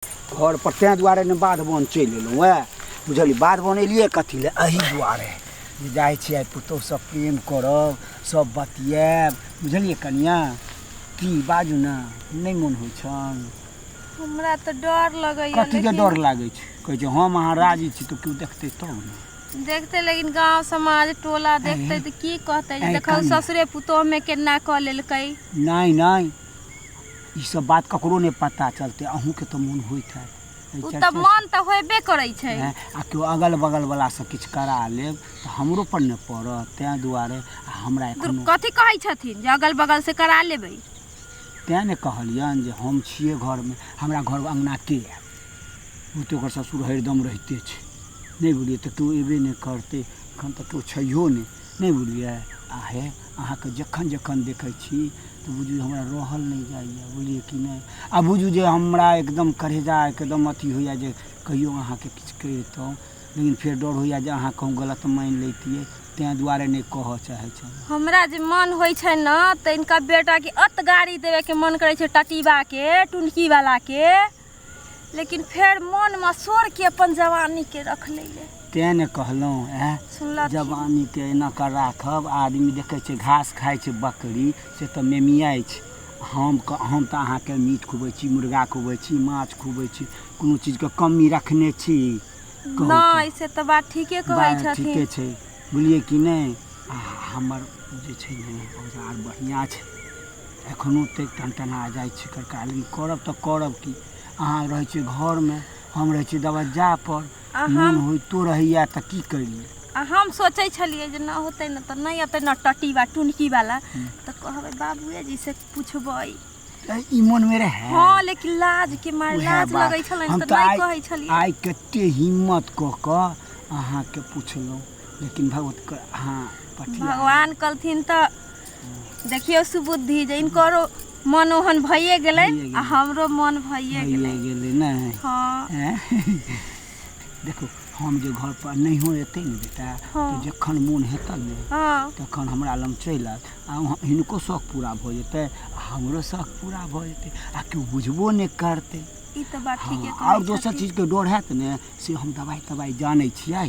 घर पर तें दुआरे ने बाध बन चलि एलहुँ है बुझलियै बाध बन एलियै कथी लए एहि दुआरे जे जाइ छी आइ पुतोह सब प्रेम करब सब बतियाब बुझलियै कनिया की बाजू ने नहि मोन होइ छन हमरा तऽ डर लगैया कथी के लेकिन- डर लागै छै कहै छै हम अहाँ राजी छी तऽ केओ देखतै तब ने देखते लेकिन गांव समाज टोला देखते तऽ की कहते जे ऐ देखौ कान। ससुरे पुतोह में केना कऽ लेलकै नहि नहि ई सब बात ककरो नहि पता चलते अहूँ के तो मन होइत है ओ तऽ मन तऽ होबे करै छै आ केओ अगल बगल वाला से किछु करा लेब तऽ हमरो पर ने पड़त तैं दुआरे आ हमरा एखन कथी कहै छथिन जे अगल बगल से करा लेबै तैं ने कहलियन जे हम छियै घर में हमरा घर अंगना के है ओ तो ओकर ससुर हरदम रहते छै नहीं बुझलियै तो तू एबे नहीं करते एखन तो तू छो नहीं नहीं बुझलियै आ हे अहाँके जखन जखन देखै छी तऽ बुझू हमरा रहल नहि जाइए बुझलियै कि नहि आ बुझू जे हमरा एकदम करेजा एकदम अथी होइए जे कहियो अहाँके किछु कहितहुँ लेकिन फेर डर होइए जे अहाँ कहूँ गलत मानि लैतियै तैँ दुआरे नहि कहऽ चाहै छलहुँ हमरा जे मन होइ छै ने तऽ इनका बेटाके अत गाड़ी देबेके मन करै छै टटीबाके टुनकीवलाके लेकिन फेर मन में सोर के अपन जवानी के रख ले तें ने कहलहुँ एँ सुनलक जवानी के एना कर राखब आदमी देखे छै घास खाइ छै बकरी से तऽ मेमियाइ छै हम क- हम तऽ अहाँके मीट खुबै छी मुर्गा खुबै छी माछ खुबै छी कोनो चीजके कमी रखने छी कहू तऽ। नहीं से तो बात ठीके कहै बात ठीके छथिन छै बुझलियै कि नहि आ हमर जे छै ने औजार बढ़िआँ छै एखनो तक टनटना जाइ छी कड़का लेकिन करब तऽ करब की अहाँ रहै छी घरमे हम रहै छी दबज्जा पर आ मोन हम होइतो रहैया तऽ की करियै आ हम सोचै छलियै जे नहि होतै ने तऽ नहि अतै ने टटी बा टुनकी वाला तऽ कहबै बाबुए जी से पूछबै तऽ ई मोनमे रहै हँ लेकिन लाज के मार उएह लाज बात। लगै छलै हम तऽ तऽ नहि आइ- कहै छलियै आइ कते हिम्मत कऽ कऽ अहाँके पुछलहुँ लेकिन भगवत अहाँ पठिया भगवान कहलथिन तऽ देखियौ सुबुद्धि जे इनकरो मन ओहन भइए गेलै आ हमरो मन भइए गेलै भइए गेलै नहि हँ हैं? देखू हम जे घर पर नहियो एतै ने बेटा हँ। तऽ जखन मोन हेतन ने हँ तखन हमरा लग चलि आयत आ वहाँ हिनको शौक पूरा भऽ जेतै आ हमरो शौक पूरा भऽ जेतै आ केओ बुझबो नहि करतै ई तऽ बात ठीके हँ, कहै आओर दोसर छथिन। चीजके डर हैत ने से हम दवाइ तवाइ जानै छियै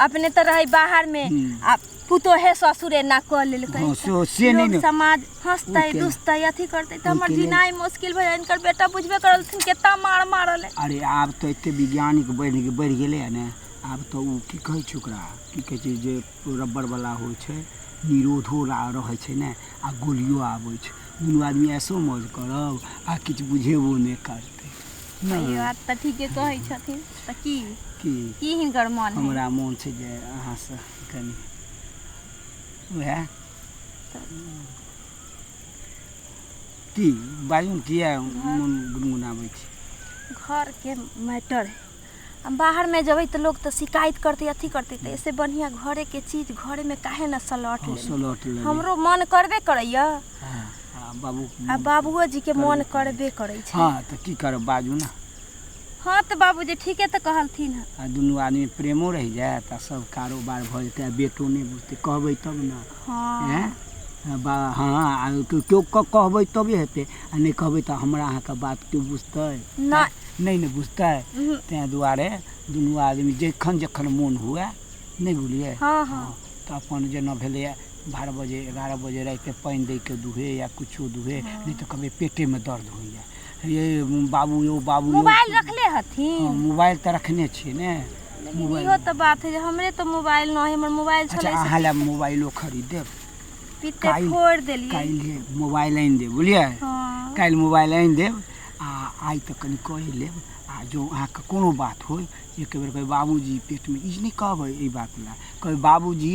अपने तऽ रहै बाहरमे आ पुतोहे ससुरे ना कऽ लेलकै हँ, से- से नहि लोग ने। समाज हंसतै ओहिके- दुसतै अथी करतै तऽ हमर ओहिके लेल- जीनाइ मुश्किल भऽ जाय इनकर बेटा बुझबे करलथिन केतना मार मारल है अरे आब तऽ एते वैज्ञानिक बढ़ि बढ़ि गेलै है ने आब तऽ ओ की कहै छै ओकरा की कहै छै जे रबड़ वाला होइ छै निरोधो ला रहै छै ने आ गोलियो आबै छै दुनू आदमी ऐसो मौज करब आ किछु बुझेबो नहि करतै तैयो आब तऽ ठीके कहै छथिन तऽ की की की हिनकर मन है हमरा मोन छै जे अहाँसँ कनि उएह की बाजू ने किए मोन गुनगुनाबै छी घरके मैटर है आ बाहरमे जेबै तऽ लोक तऽ शिकायत करतै अथी करतै तऽ एहिसँ बढ़िआँ घरेके चीज घरेमे काहे ने सलट हँ, लेबै सलट लेबै। हमरो मन करबे करैए हाँ, आ बाबू आ बाबुओ जी के मन करबे करै छै हाँ तऽ की करब बाजू ने हाँ तऽ बाबूजी ठीके तऽ कहलथिन हँ आ दुनू आदमी प्रेमो रहि जायत आ सब कारोबार भऽ जेतै आ बेटो नहि बुझतै कहबै तब ने हाँ हैं? आ बा हाँ आ केओ केओ क- कहबै तबे हेतै आ नहि कहबै तऽ हमरा अहाँके बात केओ बुझतै ना नहि ने बुझतै उहुं, ताहि दुआरे दुनू आदमी जखन जखन मोन हुए नहि बुझलियै हाँ हाँ तऽ अपन जेना भेलैए बारह बजे एगारह बजे रातिके पानि दैके दुहे या किछो दुहे नहि तऽ कभी पेटेमे दर्द होइए ये बाबू यौ बाबू यौ मोबाइल रखले हँ, हथिन मोबाइल तऽ रखने छियै ने लेकिन मोबाइल इहो तऽ बात है जे हमरे तऽ मोबाइल न है हमर मोबाइल अच्छा छलै से अहाँ लए मोबाइलो खरीद देब पीते काल्हि- फोड़ देलियै काल्हि मोबाइल आनि देब बुझलियै हँ काल्हि मोबाइल आनि देब आ आइ तऽ कनि कहि लेब आ जँ अहाँके कोनो बात होय एक बेर कहबै बाबूजी पेटमे ई नहि कहबै एहि बात लए कहबै बाबूजी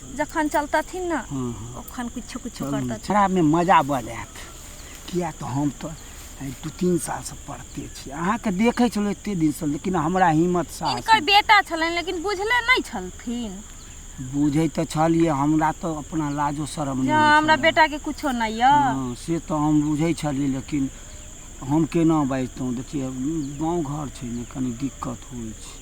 जखन चलतथिन ने ओखन किछु किछु करतथिन छड़ामे मजा बड़ आयत किया तऽ हम तऽ दू तीन सालसँ पढ़ते छी अहाँके देखै छलहुँ एते दिनसँ लेकिन हमरा हिम्मत साहस इनकर बेटा छलनि लेकिन बुझले नहि छलथिन बुझै तऽ छलियै हमरा तऽ अपना लाजो शरम जे हँ, हमरा बेटाके किछो नहि यऽ हँ, से तऽ हम बुझै छलियै लेकिन हम केना बाजितहुँ देखियै गाँव घर छै ने कनि दिक्कत होइ छै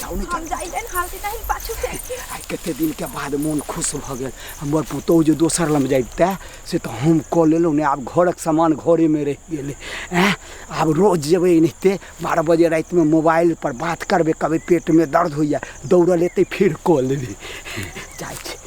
जाऊ ने हम जाइले हाल के नहीं पाछू से आइ कते दिन के बाद मोन खुश भ गेल हमर पुतोह जे दोसर लम जाइते से तऽ हम कऽ लेलहुँ ने आब घरक सामान घरेमे रहि गेलै एँ आब रोज जेबै एनाहिते बारह बजे रातिमे मोबाइल पर बात करबै कहबै पेटमे दर्द होइए दौड़ल एतै फेर कऽ लेबै जाइ छी